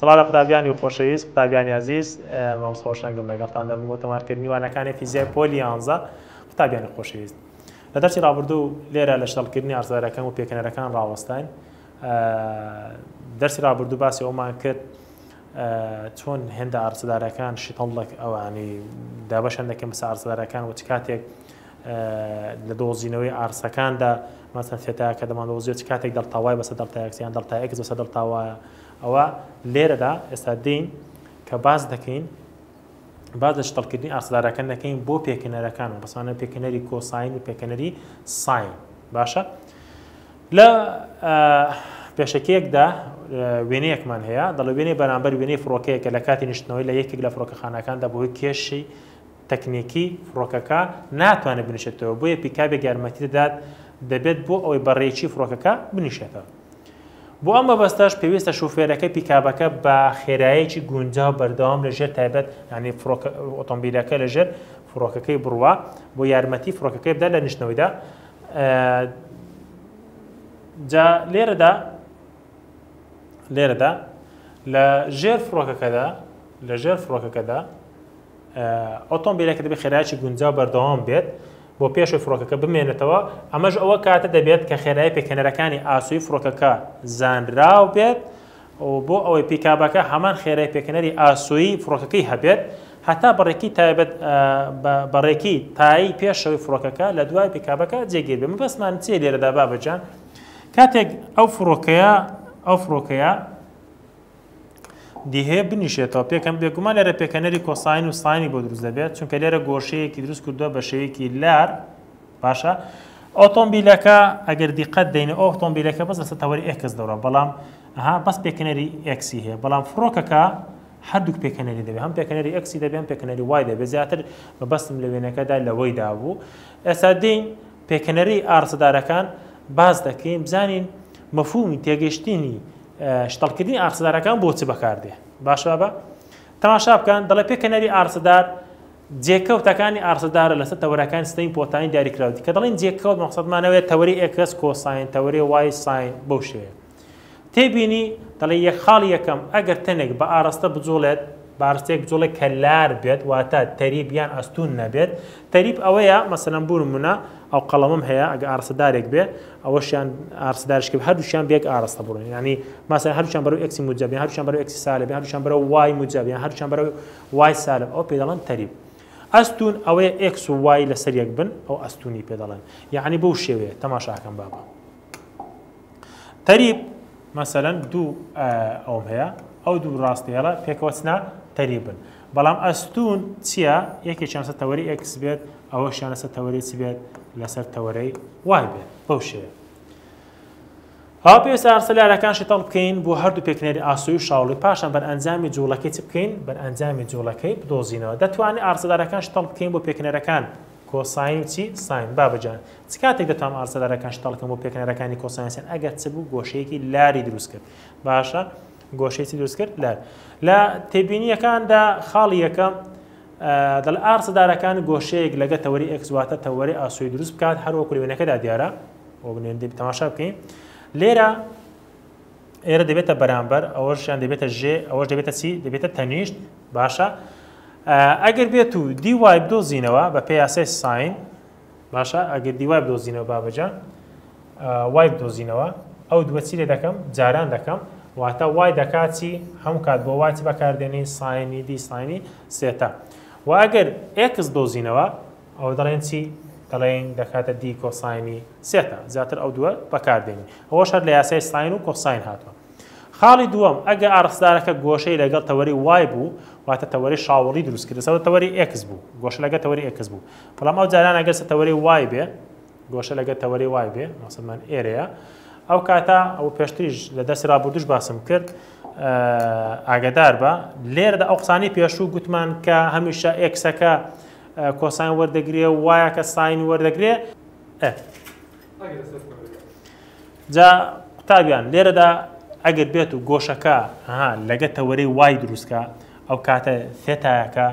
سڵاو لە قوتابیانی خۆشەویست قوتابیانی ئازیز مامۆست خۆشەنگم لەگەڵتان دەبم بۆ تۆمارکردنی وانەکانی فیزیای پۆلی یانزە قوتابیانی خۆشەویست لە دەرسی ڕابردوو لێرە لە شەڵکردنی ئارزارەکان و پێکەنەرەکان ڕاوەستاین دەرسی ڕابردوو باسی ئەومان کرد چۆن هێندە ئارسدارەکان شتەڵک ئەوانی دابەشەن دەکەن بەسە ئارسدارەکان و چ کاتێک لە دۆزینەوەی ئارسەکاندا مەسەن ثێتایا کە دەماندۆزیەوە چ کاتێک دەلتا وای بەسەر دەلتا ئێکس یان دەلتا ئێکس بەسەر دەلتا وایە ئەوە لێرەدا ئێستا دێین کە باس دەکەین باز لە شتەڵکردنی ئاسدارەکە دەکەین بۆ پێکەنەرەکان و بەسانە پێکەنەری کۆساین و پێکەنەری ساین باشە لە پێشەکەیەکدا وێنەیەکمان هەیە دەڵێ وێنەی بەرامبەر وێنەی فڕۆکەیەکە لە کاتی نیشتنەوەی لە یەکێک لە فڕۆکەخانەکاندا بۆی کێشی تەکنیکی فڕۆکەکە ناتوانێت بنیشێتەوە بۆیە پیکابێک یارمەتی دەدات دەبێت بۆ ئەوەی بە رێکی فڕۆکەکە بنیشێتەوە بۆ ئەم مەبەستەش پێویستە شوفێرەکەی پیکابەکە بە خێرایەکی گونجاو بەردەوام لە ژێر تایبەت ینی ئۆتۆمبیلەکە لە ژێر فڕۆکەکەی بڕوا بۆ یارمەتی فڕۆکەکەی بدا لە نیشتنەوەیدا جا لێرەدا لێرەدا لە ژێر فڕۆکەکەدا لە ژێر فڕۆکەکەدا ئۆتۆمبیلەکە دەبێت خێرایەکی گونجاو بەردەوام بێت بۆ پێشووی فڕۆکەکە بمێنێتەوە، ئەمەش ئەوە کاتە دەبێت کە خێرایی پێکهێنەرەکانی ئاسۆی فڕۆکەکە زانراو بێت و بۆ ئەوەی پیکابەکە هەمان خێرای پێکهێنەری ئاسۆی فڕۆکەکەی هەبێت هەتا بەڕێکی تایبەت بەڕێکی تایی پێشەوەی فڕۆکەکە لە دوای پیکابەکە جێگیر بێت مەبەستمان چیە لێرەدا بابەجان کاتێک ئەو فڕۆکەیە ئەو فڕۆکەیە دیهێ بنیشێتەوە پێکەن بێگومان لێرە پێکەنەری کۆساین و ساینی بۆ دروست دەبێت چونکە لێرە گۆشەیەکی دروست کردووە بە شێوەیەکی لار باشە ئۆتۆمبیلەکە ئەگەر دیقەت دەین ئۆتۆمبیلەکە بەس لەسەر تەوەری ئێکس دەڕە بەڵام ها بەس پێکەنەری ئەکسی هەیە بەڵام فڕۆکەکە هەردووک پێکەنەری دەبێت هەم پێکەنەری ئەکسی دەبێن پێکەنەری وای دەبێت زیاتر مەبەستم لە وێنەکەدا لەوەی دابوو ئێستا دین پێکەنەری ئارسەدارەکان باز دەکەین بزانین مەفومی تێگەشتنی شتەڵکردنی ئارسەدارەکان بۆ چ بەکاردێ باش بابە تەماشا بکەن دەڵێ پێکەنەری ئارسەدار جێکەوتەکانی ئارسەدارە لەسەر تەوەرەکانی سیستەمی پۆتاین دیاری کراوتی کە دەڵین جێکەوت مەقصدمانەوەێت تەوەری ئێکس کۆساین تەوەری وای ساین بەو شێوەیە تێبینی دەڵێ یەک خاڵی یەکەم ئەگەر تەنێک بە ئاراستە بجوڵێت بارستێک جوڵێک کە لار بێت واتە تەریب یان ئەستوون نەبێت تەریب ئەوەیە مەسەلەن بوو نمونە ئەو قەڵەمم هەیە ئەگە ئارسەدارێک بێ ئەوەشیان ئارسدارشک هەردووشیان بێک ئاراستە بڕۆن ینی ماسە هەرچیان بەرو ئەکسی موجب هەرچیان بەرو ئەکسی سالب هەرچیان بەرە وای موجب یان هەرچیان بەرە وای سالب ئەو پێ دەڵێن تەریب ئەستون ئەوەیە ئەکس و وای لەسەر یەک بن ئەو ئەستونی پێ دەڵێن یعنی بەو شێوەیە تەماشاکەم بابە تەریب مەسەلەن دوو ئەوم هەیە ئەو دوو ڕاستی هێڵە پێکەوەچنا تەریبن بەڵام ئەستون چییە یەکی چانسە تەوەری ئەکس بێت ئەوە شانەسە تەوەری چی بێت لەسەر تەوەرەی وای بێت بەو شێ ها پێویست ئارسە لارەکان شتەڵ بکەین بۆ هەردوو پێکنەری ئاسوی و شاوڵی پاشان بەر ئەنجامی جوڵەکەی چ بکەین بەر ئەنجامی جوڵەکەی بدۆزینەوە دەتوانێت ئارسەدارەکان شتەڵ بکەین بۆ پێکنەرەکان کۆساین چی ساین بابە جان چ کاتێک دەتوانم ئارسەدارەکان شتاڵ کەم بۆ پێکەنەرەکانی کۆساین ساین ئەگەر چ بوو گۆشەیەکی لاری دروست کرد باشە گۆشەی چی دروست کرد لار لە تێبینیەکاندا خاڵی یەکەم دەڵ ئارسەدارەکان گۆشەیەک لەگە تەوەری ئەکسواتە تەوەری ئاسوی دروست بکات هەروەکو لەوێنەکەدا دیارە بۆ بنێن تەماشا بکەین لێرە ئێرە دەبێتە بەرامبەر ئەوەشیان دەبێتە ژێ ئەوەش دەبێتە چی دەبێتە تەنیشت باشە ئەگەر بێت و دیوای بدۆزینەوە بە پێ یاسای ساین باشە ئەگەر دیوای بدۆزینەوە بابەجان وای بدۆزینەوە ئەو دووە چی لێ دەکەم جاران دەکەم واتە وای دەکاتی هەم کات بۆ واتی بەکاردێنین ساینی دی ساینی سێتا و ئەگەر ئێکس دۆزینەوە ئەوە دەڵێن چی؟ دەڵێین دەکاتە دی کۆساینی سێتا، زیاتر ئەو دووە بەکاردێنین، ئەوەش هەر لە یاسای ساین و کۆساین هاتووە. خاڵی دووەم، ئەگە ئاڕستدارەکە گۆشەی لەگەڵ تەوەری وای بوو، واتە تەوەری شاوڵی دروست کرد، لەسەر تەوەری ئێکس بوو، گۆشە لەگەڵ تەوەری ئێکس بوو، بەڵام ئەو جاران ئەگەر لەسەر تەوەری وای بێ، گۆشە لەگەڵ تەوەری وای بێ، مەقسەدمان ئێرەیە، ئەو کاتە، ئەوە پێشتریش لە دەرسی ڕابوردووش باسم کرد، ئاگەدار بە، لێرەدا ئەو قسانەی پێشوو گوتمان کە هەمیشە ئێکسەکە کۆساین وەردەگرێ و وایە کە ساین وەردەگرێ جا قوتابیان لێرەدا ئەگەر بێت و گۆشەکە ها لەگە تەوەرەی وای دروستکە ئەو کاتە ثێتایەکە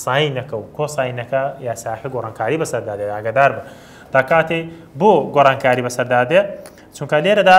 ساینەکە و کۆساینەکە یاساکە گۆڕانکاری بەسەردا دێت ئاگدار بە تا کاتێ بۆ گۆڕانکاری بەسەردا دێ چونکە لێرەدا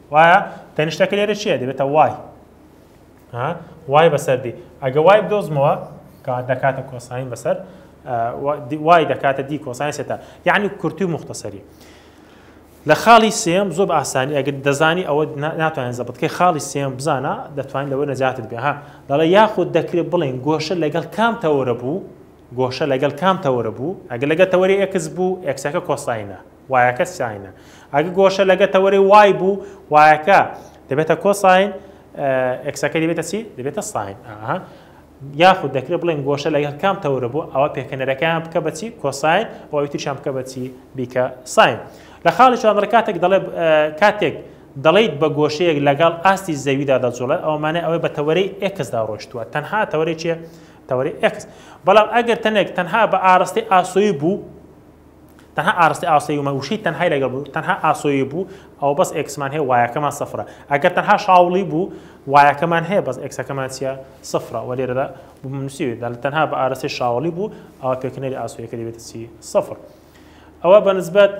وایە تەنیشتەکە لێرە چیە دەبێتە وای وای بەسەر دی ئەگە وای بدۆزمەوە کات دەکاتە کۆساین بەسەر وای دەکاتە دی کۆساین سێتا یعنی کورتی مختصری لە خاڵی سێم زۆر ئاسانی ئەگەر دەزانی ئەوە ناتوانین زەبتکەی خاڵی سێم بزانە دەتوانین لەوە نەجاتت بێ ها دەڵێ یاخود دەکرێت بڵێن گۆشە لەگەڵ کام تەوەرە بوو گۆشە لەگەڵ کام تەوەرە بوو ئەگە لەگە تەوەری ئەکس بوو ئەکسەکە کۆساینە وایەکە ساینە. ئەگە گۆشە لەگە تەوەرەی وای بوو، وایەکە دەبێتە کۆساین، ئێکسەکەی دەبێتە چی؟ دەبێتە ساین. ئاها. یاخود دەکرێت بڵێن گۆشە لەگەڵ کام تەورە بوو ئەوە پێکەنەرەکەیان بکە بەچی کۆساین ئەوەی تریشان بکە بەچی بیکە ساین لە خاڵی چوانڕ کاتێک دەڵێ کاتێک دەڵیت بە گۆشەیەک لەگەڵ ئاستی زەویدا دەجوڵێ ئەومانە ئەوەی بە تەوەری ئەکسدا ڕۆشتووە تەنها تەوەری چێ تەوەری ئەکس بەڵام ئەگەر تەنێک تەنها بە ئاراستەی ئاسۆی بوو تەنها ئارستی ئاسۆی ومە وشەی تەنهای لەگەڵ بوو تەنها ئاسۆی بوو ئەوە بەس ئێکسمان هەیە وایەکەمان سفرە ئەگەر تەنها شاوڵی بوو وایەکەمان هەیە بەس ئێکسەکەمان چیە سفرە وە لێرەدا نووسیوێت تەنها بە ئارستی شاوڵی بوو ئەوە پێکنەری ئاسۆیەکە دەبێت چی سفر ئەوە بەنسبەت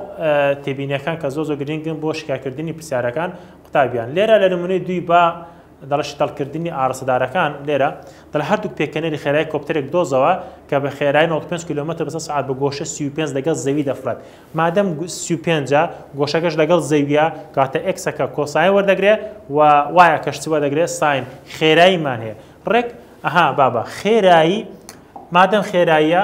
تێبینەکان کە زۆ زۆ گرنگن بۆ شکاکردنی پرسیارەکان قوتابیان لێرە لە نمونەی دوی با دەڵێت شتەڵکردنی ئاڕاستەدارەکان لێرە، دەڵێت هەردووک پێکەنێری خێرایی کۆپتەرێک دۆزەوە کە بە خێرایی نەوەد و پێنج کیلۆمەتر بە سەد سەعات بە گۆشە سی و پێنج لەگەڵ زەوی دەفڕێت مادەم سی و پێنج ە گۆشەکەش لەگەڵ زەویە کاتە ئێکسەکە کۆساین وەردەگرێ و وایە کەش چ وەردەگرێ ساین خێراییمان هەیە ڕێک ئەها بابە خێرایی مادەم خێراییە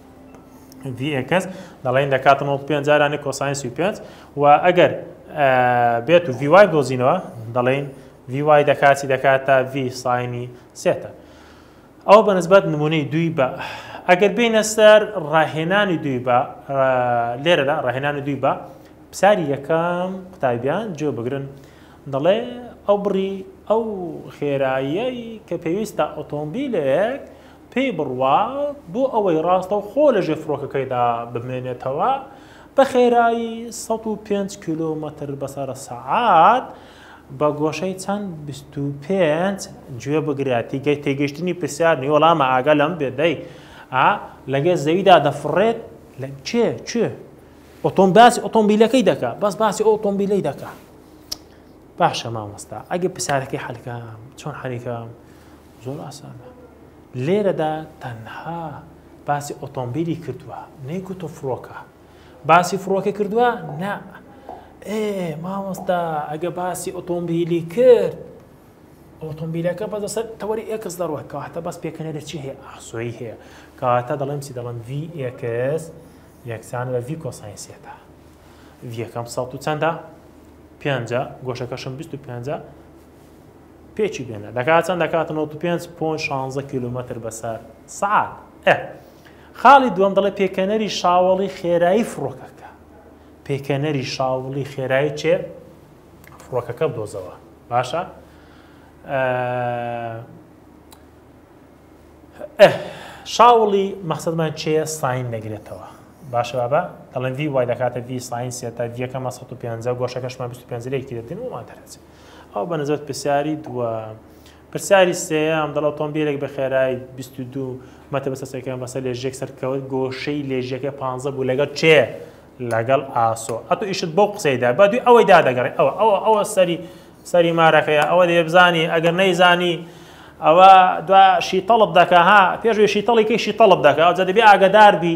ڤی ئێکس دەڵێن دەکاتە نۆڵ پێنج جارانی کۆساین سی پێنج و ئەگەر بێت و ڤیوای دۆزینەوە دەڵێن ڤی وای دەکاتی دەکات تا ڤی ساینی سێتە ئەو بەنسبەت نمونەی دوی بە ئەگەر بینە سەر ڕاهێنانی دوی بە لێرەدا ڕاهێنانی دوی بە پساری یەکەم قوتابیان جێ بگرن دەڵێ ئەو بڕی ئەو خێراییەی کە پێویستە ئۆتۆمبیلێک پێی بڕوا بۆ ئەوەی ڕاستەوخۆ لەژێ فڕۆکەکەیدا بمێنێتەوە بە خێرایی سەد و پێنج کیلۆمەتر بەسەر سەعات بە گۆشەی چەند بیست و پێنج گوێ بگرە تیگەی تێگەشتنی پرسیار نی وەڵامە ئاگە لەم بێ دەی لەگەر زەویدا دەفڕێت لە چێ چێ ئۆتۆم باسی ئۆتۆمبیلەکەی دەکا بەس باسی ئۆتۆمبیلی دەکا باشە مامۆستا ئەگە پرسیارەکەی حەلکە چۆن حەریکە زۆر ئاسانە لێرەدا تەنها باسی ئۆتۆمبیلی کردووە نەیکوتۆ فڕۆکە باسی فڕۆکە کردووە نا ئێ مامۆستا ئەگە باسی ئۆتۆمبیلی کرد ئۆتۆمبیلەکە بە دەسەر تەوەری ئێکس دەڕوە کەواتە بەس پێکەنەرە چی هەیە ئاسۆی هەیە کەواتە دەڵێم چی دەڵم ڤی ئێکس یەکسان بە ڤی کۆساینسیەکە ڤیەکەم سەڵ و چەندە پێنجە گۆشەکەشم 25 پێکی بێنە دەکات چەند دەکات 95.16 کیلومتر بەسەر سعات ئە خاڵی دووەم دەڵێ پێکەنەری شاوەڵی خێرایی فڕۆکەکە پێکەنەری شاوڵی خێرایی چێ فڕۆکەکە بدۆزەوە باشە شاوڵی مەخصدمان چێە ساین دەگرێتەوە باشە بابا دەڵێن وی وای دەکاتە وی ساین سێتا دیەکەمە 150 گۆشەکەشمان 25 لێکی دەتن ومان دەرەچێت ئەوە بە نسبەت پرسیاری دووەم. پرسیاری سێیەم دەڵ ئۆتۆمبیلێک بە خێرایی 22 مەتر بەسەر سەرکەوێن بەسەر لێژیەک سەرکەوت گۆشەی لێژیەکە 15 بوو لەگەڵ کێ؟ لەگەڵ ئاسۆ ئەتو ئیشت بەو قسەیدا با دوی ئەوەی دادەگەڕێ ئەوە ئەوە ئەوە سەری سەری مارەکەیە ئەوە دەبێ بزانی ئەگەر نەیزانی ئەوە دوا شیتەڵت دەکا ها پێشوی شیتەڵی کەی شیتەڵت دەکا ئەوجا دەبێ ئاگەدار بی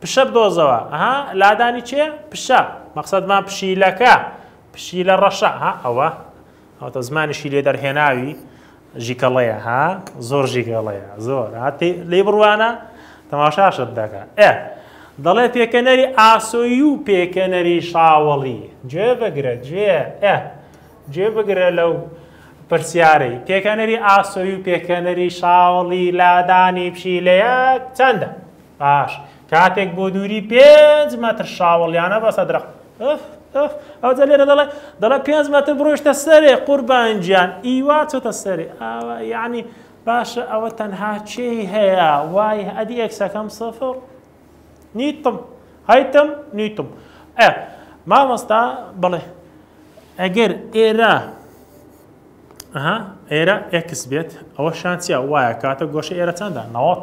پشە بدۆزەوە، ها، لادانی چێ؟ پشە، مەقسەدمان پشیلەکە، پشیلە ڕەشە، ها، ئەوە، ئەوەتە زمانیشی لێ دەرهێناوی ژیکەڵەیە، ها، زۆر ژیکەڵەیە، زۆر، ها، تێ، لێی بڕوانە، تەماشاشت دەکا، ئێ، دەڵێ پێکەنەری ئاسۆیی و پێکەنەری شاوەڵی، گوێ بگرە، گوێ، ئێ، گوێ بگرە لەو پرسیارەی، پێکەنەری ئاسۆیی و پێکەنەری شاوەڵی لادانی پشیلەیەک چەندە؟ باش کاتێک بۆ دووری پێنج مەتر شاوەڵیانە بەسە درەخت ئف ئف ئەوجە لێرە دەڵێ دەڵێ پێنج مەتر بڕۆشتە سەرێ قوربان گیان ئیوا چۆتە سەرێ ئاوا یعنی باشە ئەوە تەنها چێی هەیە وای ئەدی ئەکسەکەم سفر نیتم هەیتم نیتم ئە مامۆستا بڵێ ئەگەر ئێرە ئەها ئێرە ئێکس بێت ئەوە شانسیە وایە کاتە گۆشە ئێرە چەندە نەوەت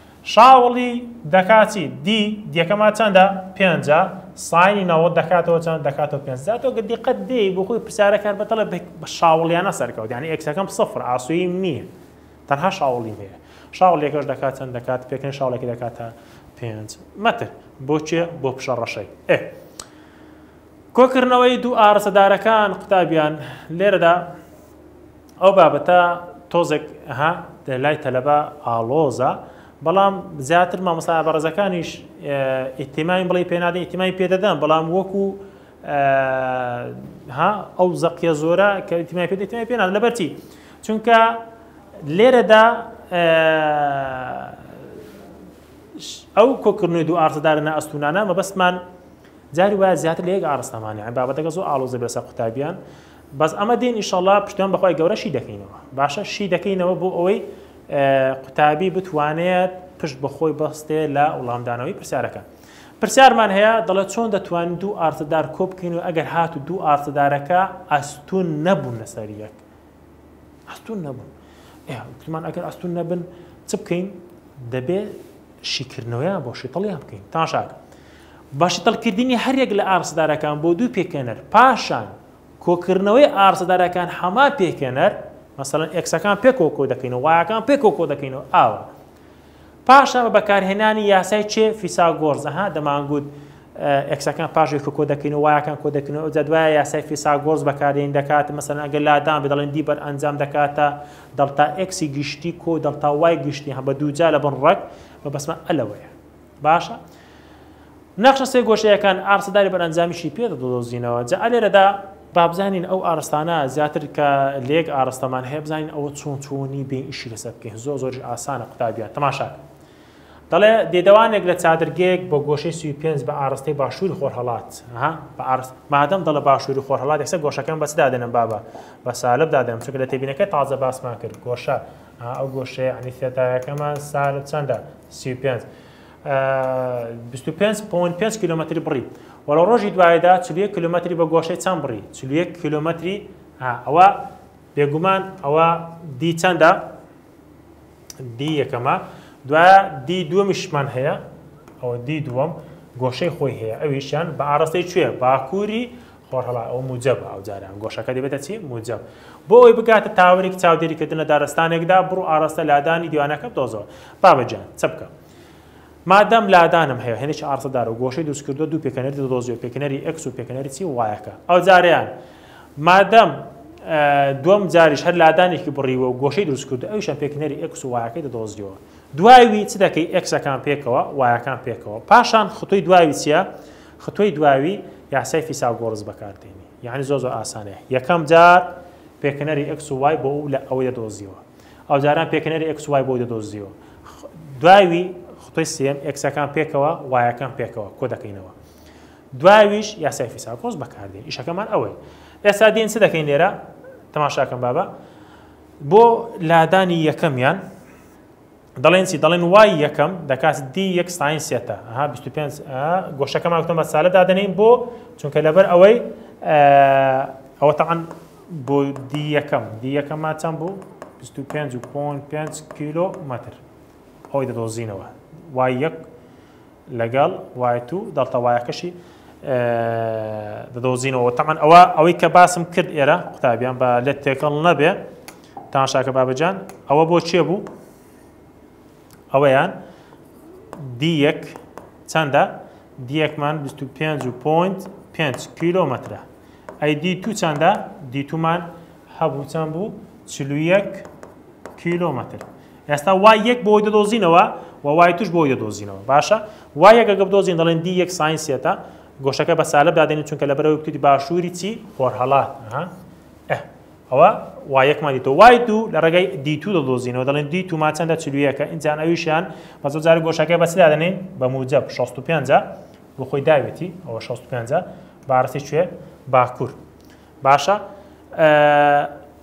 شاوڵی دەکا چی؟ دی دیەکەما چەندە؟ پێنجە، ساینی نەوەد دەکاتەوە چەند؟ دەکاتەوە پێنج. جا تۆ گە دیقەت دێی بۆ خۆی پرسیارەکە هەر بە دڵێ بە بە شاوڵیانە سەرکەوت، یانی ئێکسەکەم سفرە، ئاسۆییم نییە. تەنها شاوڵیم هەیە. شاوڵیەکەش دەکات چەند دەکات؟ پێکەنین شاوڵێکی دەکاتە پێنج مەتر. بۆ کێ؟ بۆ پشە ڕەشەی. ئێ. کۆکردنەوەی دوو ئاڕستەدارەکان قوتابیان، لێرەدا، ئەو بابەتە تۆزێک ها لای تەلەبە ئاڵۆزە بەڵام زیاتر مامۆستا بەڕێزەکانیش ئیتیماین بڵی پێنادە ئیتیمای پێدەدەن بەڵام وەکو ها ئەو زەقیە زۆرە کە ئیتیمای پێ ئیتیمای پێناد لەبەرچی چونکە لێرەدا ئەو کۆکردنەوەی دوو ئارزدارە نە ئەستونانە مەبەستمان جاری وایە زیاتر لە یەک ئارستەمانە بابەتەکە زۆر ئاڵۆزە بەسە قوتابیان بەس ئەمە دێن ئیشەڵا پشتیوان بەخوای گەورە شی دەکەینەوە باشە شی دەکەینەوە بۆ ئەوەی قوتابی بتوانێت پشت بەخۆی بەستێ لە وڵامدانەوەی پرسیارەکە پرسیارمان هەیە دەڵێت چۆن دەتوانین دوو ئارتدار کۆبکەین و ئەگەر هات و دوو ئارتدارەکە ئەستون نەبوون لەسەر یەک ئەستون نەبوون کوتمان ئەگەر ئەستون نەبن چ بکەین دەبێت شیکردنەوەیان بۆ شیتەڵیان بکەین تاشاکە باشترکردنی هەریەک لە ئارەستەدارەکان بۆ دوو پێکهێنەر، پاشان کۆکردنەوەی ئارەستەدارەکان هەمان پێکهێنەر، مەسەلەن ئێکسەکان پێکەوە کۆدەکەینەوە وایەکان پێکەوە کۆدەکەینەوە ئاوە. پاشان بە بەکارهێنانی یاسای چێ فیساگۆرس ئەها دەمانگوت ئێکسەکان پاش یەکە کۆدەکەینەوە وایەکان کۆدەکەینەوە ئەوجا دوایە یاسای فیساگۆرس بەکارێن دەکات مەسەلەن ئەگەر لادان بێ دەڵێن دی بەر ئەنجام دەکاتە دەڵتا ئێکسی گشتی کۆ دەڵتا وای گشتی هەم بە دووجا لە بن ڕەگ مەبەستمان ئەلەوەیە باشە نەخشە سێ گۆشەیەکان ئارسەداری بەرەنجامیشی پێ دەدۆزینەوە جا ئەلێرەدا بابزانین ئەو ئارستانە زیاتر کە لێک ئارستەمان هەیە بزانین ئەوە چۆن چۆنی بێ ئیشی لەسەر بکەین زۆر زۆریش ئاسانە قوتابیان تەماشاکە دەڵێ دێدەوانێک لە چادرگەیەک بە گۆشەی سوی پێنج بە ئاراستەی باشووری خۆرهڵات بە ئارست مادەم دەڵە باشووری خۆرهڵات یەکسە گۆشەکەم بەچ دادێنم بابە بە سالب دادەم چونکە لە تێبینەکە تازە باسمان کرد گۆشە ها ئەو گۆشەیە یەعنی ثێتایەکەمان سالب چەندە؟ سی و پێنج بیست و پێنج پۆن پێنج کیلۆمەتری بڕی وە لە ڕۆژی دواییدا چل و یەک کیلۆمەتری بە گۆشەی چەند بڕی چل و یەک کیلۆمەتری ها ئەوە بێگومان ئەوە دی چەندە دی یەکەمە دوایە دی دووەمیشمان هەیە ئەوە دی دووەم گۆشەی خۆی هەیە ئەویشیان بە ئاڕاستەی کوێ باکووری خۆرهەڵات ئەوە موجەبە ئەو جاران گۆشەکە دەبێتە چی؟ موجەب. بۆ ئەوەی بگاتە تاوەرێکی چاودێری کردن لە دارستانێکدا بڕو ئاراستە لادانی دیوانەکە بدۆزەوە. بابە گیان، چ بکەم؟ مادام لادانم هەیە، هێندێکی ئاراستەدار و گۆشەی دروست کردووە دوو پێکهێنەری دەدۆزیەوە پێکهێنەری ئێکس و پێکهێنەری چی؟ وایەکە. ئەو جارەیان مادام دووەم جاریش هەر لادانێکی بڕیوە و گۆشەی دروست کردو ئەویشان پێکهێنەری ئێکس و وایەکەی دەدۆزیەوە. دوای وی چ دەکەی؟ ئێکسەکان پێکەوە، وایەکان پێکەوە. پاشان خطوی دوای وی چیە؟ ختوی دواوی یاسای فیساگۆرس بەکاردێنی یانی زۆر زۆر ئاسانە یەکەم جار پێکنەری ئەکس و وای بۆ ئەو لە ئەوەی دەدۆزیەوە ئەو جاران پێکنەری ئەکس وای بۆ دەدۆزیەوە دواوی خۆی سم ئەکسەکان پێکەوە وایەکان پێکەوە کۆ دەکەینەوە دواویش یاسای فیساکۆز بەکاردێن ئیشەکەمان ئەوەی ئێستا دێن چ دەکەین لێرە تەماشاکەم بابە بۆ لادانی یەکەمیان دەڵێن چی دەڵێن وای یەکەم دەکات دی یەک ساین سێتە ها 25 گۆشەکەمان وتم بە سالە دادەنین بۆ چونکە لەبەر ئەوەی ئەوە تاعاان بۆ دی یەکەم دی یەکەمما چەند بوو 25 کیلۆ مەتر ئەوی دەدۆزینەوە وای یەک لەگەڵ وایت و دەڵتەوایەکەشی دەدۆزینەوە تەمان ئەوە ئەوەی کە باسم کرد ئێرە قوتابیان بە لێت تێکەڵ نەبێ تاشاکە بابەجان ئەوە بۆ چێ بوو ئەوەیان دی یەک چەندە دیەکمان 25 و پوینت 5 کیلومترە ئەی دی تو چەندە دیتومان هەبوو چەند بوو چلوویەک کیلومتر ئێستا وای یەک بۆی دەدۆزینەوە و وای توش بۆی دەدۆزینەوە باشە وای یەک ئەگەر بدۆزین دەڵێن دی یەک ساین سێتا گۆشەکە بە سالب دادێنین چونکە لەبەرەوەی بتوتی باشووری چی خۆرهەڵات ها ئه ئەوە وای یەکمان دیتەوە وای دوو لە ڕێگەی دی تو دەدۆزینەوە دەڵێن دی تومان چەندە چلویەکە ئینجان ئەویشیان بە زۆر جارە گۆشەکە بە چ دادێنین بە موجب 65 بۆ خۆی داوێتی ئەوە 65 بارەسی کوێ باکوور باشە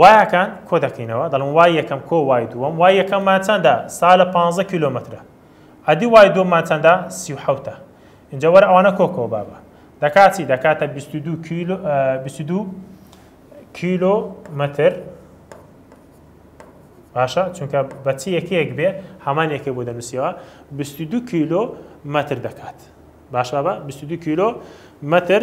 وایەکان کۆ دەکەینەوە دەڵێن وای یەکەم کۆ وای دووەم وای یەکەممان چەندە سا لە پانزە کیلۆمەترە ئەدی وای دووەممان چەندە سی و حەوتە ئینجا وەرە ئەوانە کۆ کۆ بابە دەکات چی دەکاتە بیست و دوو کیلو بیست و دوو کیلۆمەتر باشە چونکە بەچی یەکەیەک بێ هەمان یەکە بۆ دەنووسیەوە بیست و دوو کیلۆ مەتر دەکات باشە بە بیست و دوو کیلۆ مەتر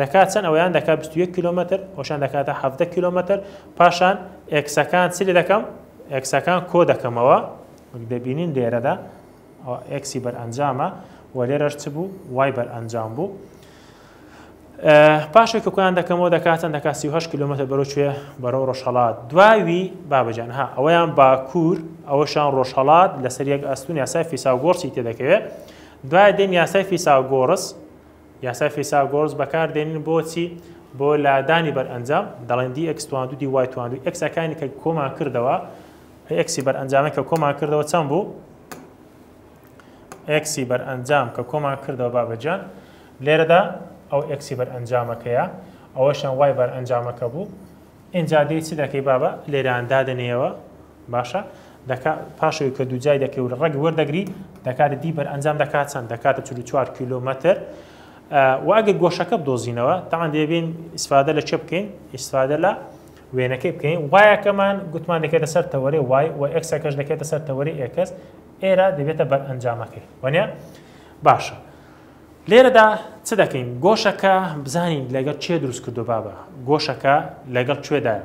دەکات چەند ئەوەیان دەکات بیست و یەک کیلۆمەتر ئەوشان دەکاتە حەڤدە کیلۆمەتر پاشان ئێکسەکان چ لێ دەکەم ئێکسەکان کۆ دەکەمەوە وەک دەبینین لێرەدا ئەوە ئێکسی بەرئەنجامە و لێرەش چ بوو وای بەرئەنجام بوو پاشێک کە کۆیان دەکەمەوە دەکاتن دەکات 38 کیلومتر بەرەو کوێ بەرەو ڕۆژهڵات دواوی بابجان ها ئەوەیان باکوور ئەوەشان ڕۆژهڵات لەسەر یەک ئەستون یاسای فیساگۆرسی تێدەکەوێت دوای دێن یاسای فیساگۆرس یاسای فیساگۆرس بەکار دێنین بۆ چی؟ بۆ لادانی بەرئەنجام دەڵێن دی ئێکس تواندو دی وای تواندو ئێکس ئەکانی کە کۆمان کردەوە ئێکسی بەرئەنجامە کە کۆمان کردەوە چەند بوو؟ ئێکسی بەرئەنجام کە کۆمان کردەوە بابەجان لێرەدا ئەو ئێکسی بەرئەنجامەکەیە ئەوەشان وای بەرئەنجامەکە بوو ئینجا دێ چی دەکەی بابە لێران دادەنێەوە باشە دەکا پاشەوەی کە دووجای دەکەی و لە ڕەگ وەردەگری دەکاتە دی بەر ئەنجام دەکات چەند دەکاتە چ چوار کیلومتر واگەر گۆشەکە بدۆزینەوە تاان دەبین ئیسفادە لە چێ بکەین ئیسفادە لە وێنەکەی بکەین وایەکەمان گوتمان دەکێتە سەر تەوەێ وای و ئەکسەکەش دەکێتە سەر تەوەری ئێکس ئێرە دەبێتە بەر ئەنجامەکەی وەنە باشە لێرەدا چ دەکەین گۆشەکە بزانین لەگەڵ چێ دروست کردو بابە گۆشەکە لەگەڵ کوێدایە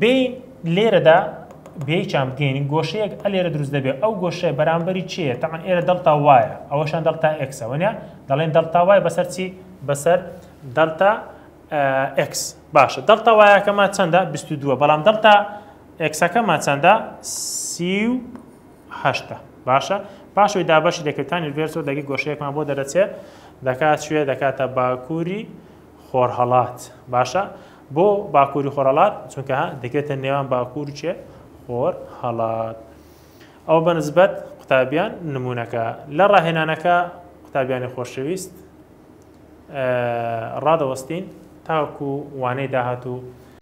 بێین لێرەدا بێچان بگەین گۆشەیەک ئەلێرە دروست دەبێت ئەو گۆشەیە بەرامبەری چیە تاعن ئێرە دڵتا وایە ئەوەشان دڵتا ئەکسەوەە دەڵێن دڵتا وای بەسەر چی بەسەر دڵتا ئەکس باشە دڵتا وایەکەمە چەندە 22 بەڵام دڵتا ئەکسەکەمە چەندە سیهشتا باشە پاشوی دابەشی دەکەکانی ڤێرسۆ دەگەی گۆشەیەکمان بۆ دەرەچێت دەکات شوێ دەکاتە باکووری خۆرهەڵات باشە بۆ باکووری خۆرەڵات چونکە دەکێتە نێوان باکوور چێ خۆر هەڵات ئەو بەنسبەت قوتابیان نمونونەکە لە ڕاهێنانەکە قوتابیانی خۆشەویست ڕادەوەستین تاکو وانەی داهات و